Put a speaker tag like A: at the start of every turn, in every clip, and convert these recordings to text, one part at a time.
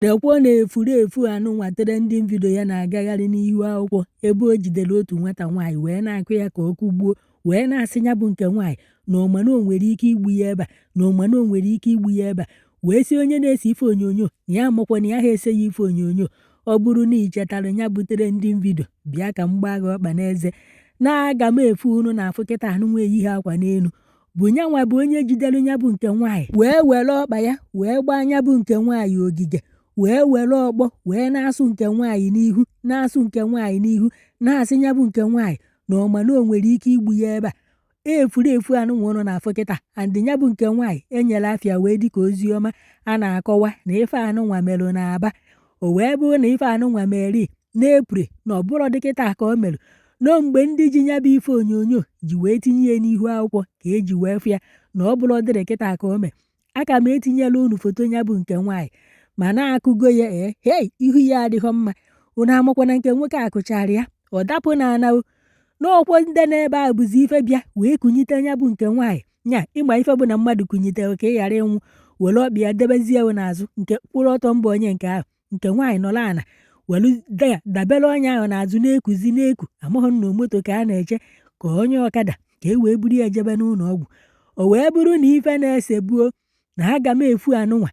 A: Lekwa na efulefu anụnwa trending video ya na-agagharị n'ihu akwụkwọ ebe o jidere otu nwata nwaanyị wee na-akụ ya ka ọ kụgbuo wee na-asị ya bụ nke nwaanyị na ọ ma na o nwere ike igbu ya ebe a na ọ ma na o nwere ike igbu ya ebe a wee sị onye na-ese ife onyonyo na ya amakwa na ya ha ese ya ife onyonyo ọ bụrụ na ị chetara ya bụ trending video bịa ka m gbaa gị ọkpa n'eze na aga m efu unu na-afụ kịta anụnwa eyighị akwa n'elu bụ nyanwa bụ onye jidere nya bụ nke nwaanyị wee were ọkpa ya wee gbaa nya bụ nke nwaanyị ogige wee were ọkpọ wee na-asụ nke nwaanyị n'ihu na-asụ nke nwaanyị n'ihu na-asị nya bụ nke nwaanyị na ọ ma na o nwere ike igbu ya ebe a efulefu anụnwa unu na-afụ kịta andị nya bụ nke nwaanyị enyela afịa wee dịka ozi ọma a na-akọwa na ife anụnwa merụ n'Aba o wee bụrụ na ife anụnwa mere n'Eprel na ọ bụrọ dị kịta ka o mere na mgbe ndị ji ya bụ ife onyonyo ji wee tinye ya n'ihu akwụkwọ ka eji wee fụ ya na ọ bụrọ dịrị kịta ka o mere aga m etinyelu unu foto ya bụ nke nwaanyị ma na-akụgo ya ee hei ihu ya adịghọ mma unu amakwana nke nwoke akụchara ya ọ dapụ na ana n'ọkwọ ndị nọ ebe a bụzi ife bịa wee kunyite nya bụ nke nwaanyị nya ịgba ife bụ na mmadụ kunyitere ka ị ghara ịnwụ were ọkpa ya debezie n'azụ nke kwụrụ ọtọ mbụ onye nke ahụ nke nwaanyị nọrọ ana welu da ya dabere onye ahụ n'azụ na-ekuzi na-eku amaghị m ma moto ka a na-eche ka onye ọkada ka e wee buru ya jebe n'ụlọ ọgwụ o wee bụrụ na ife na-ese bụ na aga m efu anụnwa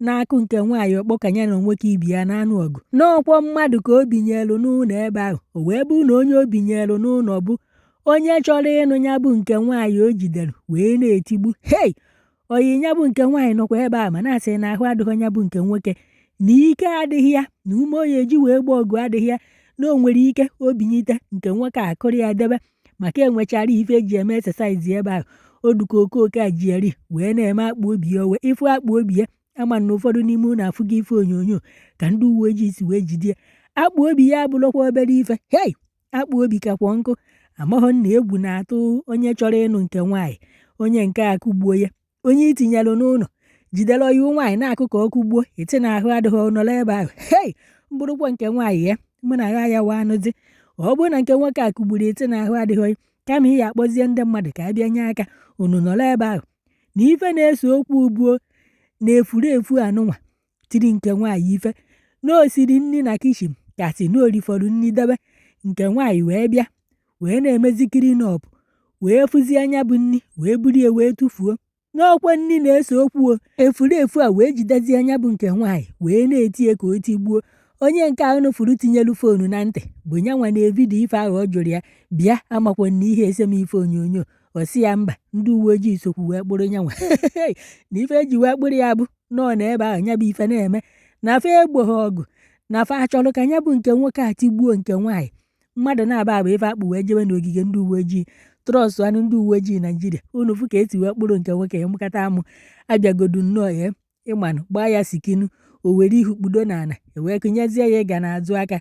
A: na-akụ nke nwaanyị ọkpọ ka nya na nwoke ibe ya na-anụ ọgụ n'ọkwọ mmadụ ka o binyelu n'ụlọ ebe ahụ o wee bụrụ na onye o binyelu n'ụlọ bụ onye chọrọ ịnụ ya bụ nke nwaanyị o jidere wee na-etigbu hei oyi ya bụ nke nwaanyị nọkwa ebe a ma na-asị na ahụ adịghị nya bụ nke nwoke na ike adịghị ya na ume ọ ya-eji wee gba ọgụ adịghị ya na o nwere ike o binyite nke nwoke akụrụ ya debe maka enwechara ife eji eme exercise ebe ahụ ọ dịka okoke a ji eri wee na-eme akpụ obi ya wee ị fụ akpụ obi ya ama m na ụfọdụ n'ime unu afụgo ife onyonyo ka ndị uwe ojii si wee jide ya akpụ obi ya abụrụkwa obere ife hei akpụ obi kakwa nkụ amaghọ na egwu na-atụ onye chọrọ ịnụ nke nwaanyị onye nke akụgbuo ya onye i tinyelụ n'ụlọ jidere oyi nwaanyị na-akụ ka ọ kụgbuo ị sị na ahụ adịghị ọ nọrọ ebe ahụ hei m bụrụkwa nke nwaanyị ya mụ na agha ya wa anụzi ọ bụrụ na nke nwoke a kụgburu ị sị na ahụ adịghị gị kama ị ya akpọzie ndị mmadụ ka a bịa nye aka unu nọrọ ebe ahụ na ife na-ese okwu bụ na efulefu anụnwa tiri nke nwaanyị ife na o siri nri na kitchen ka a sị na o rifọrọ nri debe nke nwaanyị wee bịa wee na-emezi clean up wee fụzie nya bụ nri wee buru ya wee tụfuo na ọkwa nri na-ese okwu o efulefu a wee jidezie nya bụ nke nwaanyị wee na-eti ya ka o tigbuo onye nke ahụ unu fụrụ tinyelu foonu na ntị bụ ya nwa na-evidio ife ahụ ọ jụrụ ya bịa amakwa na ihe ese m ife onyonyo ọ sị ya mba ndị uwe ojii sokwu wee kpụrụ ya nwa na ife eji wee kpụrụ ya bụ nọ n'ebe ahụ ya bụ ife na-eme na fa egboghị ọgụ na fa achọrọ ka ya bụ nke nwoke a tigbuo nke nwaanyị mmadụ naabọ a bụ ife a kpụ wee jebe n'ogige ndị uwe ojii trust nụ ndị uwe ojii Naijiria unu fụ ka e si wee kpụrụ nke nwoke ya mkata amụ abịagodu nnọọ ya ịmanụ gbaa ya sikinu o were ihu kpudo n'ala e wee kụnyezie ya ịga n'azụ aka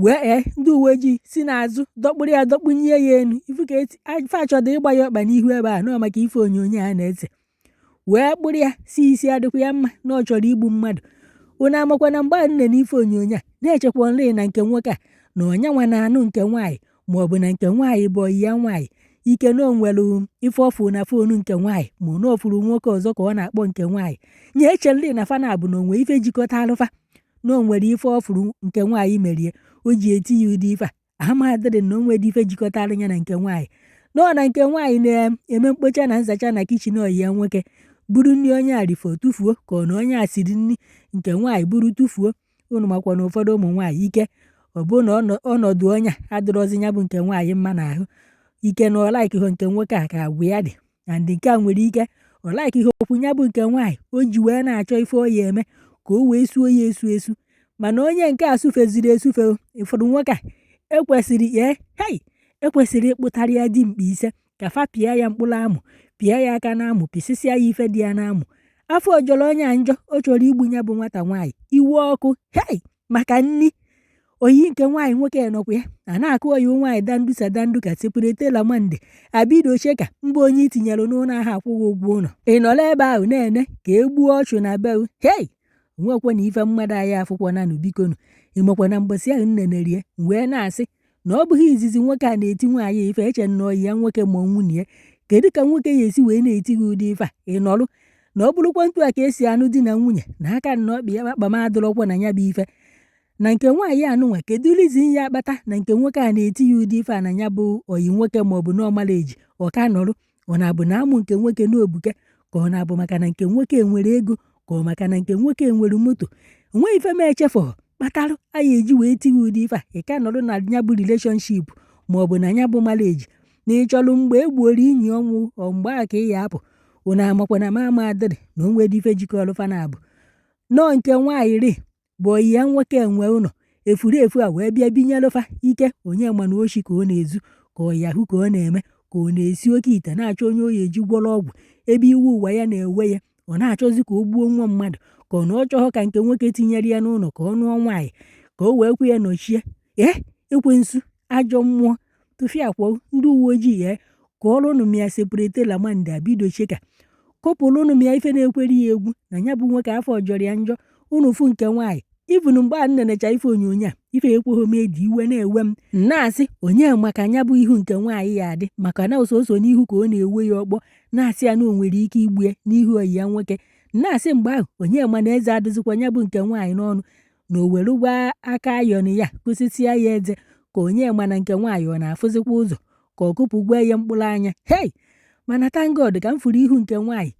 A: wee ee ndị uwe ojii si n'azụ dọkpụrụ ya dọkpụnye ya enu ifu ka eti ife a chọdụ ịgba ya ọkpa n'ihu ebe a nọọ maka ife onyonyo a na-ese wee kpụrụ ya sị isi adịkwa ya mma na ọ chọrọ igbu mmadụ unu amakwa na mgbe a m nene ife onyonyo a na-echekwanụrị na nke nwoke a na ọ nyanwa na-anụ nke nwaanyị ma ọ bụ na nke nwaanyị bụ ọyị ya nwaanyị ike na o nwere ife ọ fụ na phone nke nwaanyị ma na ọ fụrụ nwoke ọzọ ka ọ na-akpọ nke nwaanyị nye eche nri na fa naabọ na o nwe ife jikọtaalụ fa na o nwere ife ọ fụrụ nke nwaanyị merie o ji eti ya ụdị ife a amadịrị na o nwedị ife jikọtara ya na nke nwaanyị na ọ na nke nwaanyị na-eme mkpocha na nzacha na kitchen ọyị ya nwoke buru nri onye a rifọ tụfuo ka ọ na onye a siri nri nke nwaanyị buru tụfuo unu makwa na ụfọdụ ụmụ nwaanyị ike ọ bụ na ọnọ- ọnọdụ onye a adịrọzi ya bụ nke nwaanyị mma n'ahụ ike na ọ likehụ nke nwoke a ka agwa ya dị and nke a nwere ike ọ like ihe okwu ya bụ nke nwaanyị o ji wee na-achọ ife ọ ya-eme ka o wee suo ya esu esu mana onye nke a sufeziri esufe ụfọdụ nwoke a ekwesịrị ee hei ekwesịrị ịkpụtara ya dimkpa ise ka fa pịa ya mkpụrụ amụ pịa ya aka n'amụ pịsịsịa ya ife dị ya n'amụ afọ ọ jọrọ onye a njọ ọ chọrọ igbu ya bụ nwata nwaanyị iwe ọkụ hei maka nri ọyị nke nwaanyị nwoke nọkwa ya a na-akụ ọyị nwaanyị dandusa dandu ka separate la mande abido cheka mba onye i tinyere n'ụlọ ahụ akwụghị ụgwọ ụlọ ị nọrọ ebe ahụ na-ene ka e gbuo ọchụ na be gị hei nwekwa na ife mmadụ anyị afụkwananụ bikonu ị makwa na mbọsị ahụ m neneri ya wee na-asị na ọ bụghị izizi nwoke a na-eti nwaanyị ife e chee na ọyị ya nwoke ma ọ nwunye ya kedu ka nwoke ya-esi wee na-eti gị ụdị ife a ị nọrụ na ọ bụrụkwa etu a ka e si anụ di na nwunye na aka na ọkpa ya kpakpa m adịrọkwa na ya bụ ife na nke nwaanyị a nụnwa kedu reason ya-akpata na nke nwoke a na-eti ya ụdị ife a na ya bụ ọyị nwoke ma ọ bụ na ọ marriage ọ ka nọrụ ọ na-abụ na amụ nke nwoke na o buke ka ọ na-abụ maka na nke nwoke nwere ego ka ọ maka na nke nwoke nwere moto o nweghị ife m echefụ kpatara a ya-eji wee tie gị ụdị ife a ị ka nọrọ na ya bụ relationship ma ọ bụ na ya bụ marriage na ị chọrọ mgbe e gbuoro ị nye ọnwụ ọ mgbe a ka ị ya-apụ unu amakwa na m amadịrị na o nwere ife jikọrọ fa naabọ na ọ nke nwaanyị rị bụ ọyị ya nwoke nwe ụlọ efurefu a wee bịa binyelụ fa ike onye ma na oshi ka ọ na-ezu ka ọ Yahoo ka ọ na-eme ka ọ na-esi oke ite na-achọ onye ọ ya-eji gwọrọ ọgwụ ebe iwe ụwa ya na-ewe ya ọ na-achọzi ka o gbuo nwa mmadụ ka ọ na ọ chọghọ ka nke nwoke tinyere ya n'ụlọ ka ọ nụọ nwaanyị ka o wee kwe ya nọchie ee ekwensu ajọ mmụọ tụfiakwa ndị uwe ojii ya kụọrọ ụnụ m ya separate lamande abido cheka kụpụrụnụ m ya ife na-ekwere ya egwu na ya bụ nwoke afọ jọrọ ya njọ ụnụ fụ nke nwaanyị even mgbe a nenecha ife onyonyo a ife ekweghị m eji iwe na-ewe m na-asị onye ma ka nya bụ ihu nke nwaanyị ya-adị maka na ọ sọsọ n'ihu ka ọ na-ewe ya ọkpọ na-asị ya na o nwere ike igbu ya n'ihu oyi ya nwoke na-asị mgbe ahụ onye ma na eze adịzikwa ya bụ nke nwaanyị n'ọnụ na o were mgbaaka ayọn ya kụsịsịa ya eze ka onye ma na nke nwaanyị ọ na-afụzikwa ụzọ ka ọ kụpụgwo ya mkpụrụ anya hei mana thank God ka m fụrụ ihu nke nwaanyị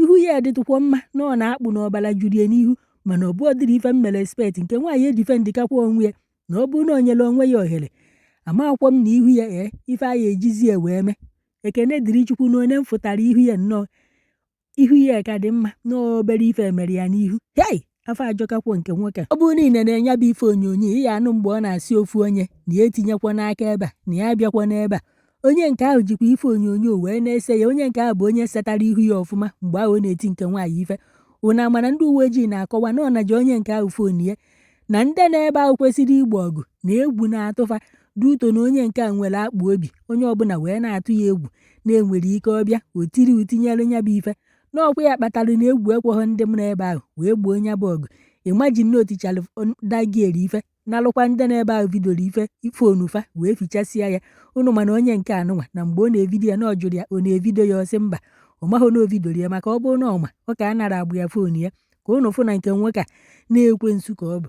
A: ihu ya dịtụkwa mma na ọ na-akpụ na ọbara juru ya n'ihu mana ọ bụghị ụdịrị ife m mere expect nke nwaanyị edifendịkakwa onwe ya na ọ bụrụ na o nyere onwe ya ohere amakwọ m na ihu ya ee ife a ya-ejizi ya wee mee ekene dịrị chukwu na oge m fụtara ihu ya nnọọ ihu ya ka dị mma na obere ife mere ya n'ihu hei afọ ajọkakwo nke nwoke ọ bụrụ na i nene nya bụ ife onyonyo ị ya-anụ mgbe ọ na-asị ofu onye na ya etinyekwana aka ebe a na ya abịakwana ebe a onye nke ahụ jikwa ife onyonyo wee na-ese ya onye nke ahụ bụ onye setara ihu ya ọfụma mgbe ahụ ọ na-eti nke nwaanyị ife ụna mana ndị uwe ojii na-akọwa na ọ naji onye nke ahụ fon ya na ndị nọ ebe ahụ kwesịrị igbo ọgụ na egwu na-atụ fa due to na onye nke a nwere akpụ obi onye ọbụla wee na-atụ ya egwu na e nwere ike ọ bịa o tiri utinyere ya bụ ife na ọ kwa ya kpatara na egwu ekweghị ndị nọ ebe ahụ wee gboo nya bụ ọgụ imagine na o tichara that girl ife nalụkwa ndị nọ ebe ahụ vidioro ife fon fa wee fichasịa ya ụnụ mana onye nke a nụnwa na mgbe ọ na-evidio ya na ọ jụrụ ya ọ na-evidio ya ọ sị mba ọ maghị na o vidioro ya maka ọ bụrụ na ọ ma ọ ka-anara agbụ ya fon ya ka ụnụ fụ na nke nwoke a na ekwensu ka ọ bụ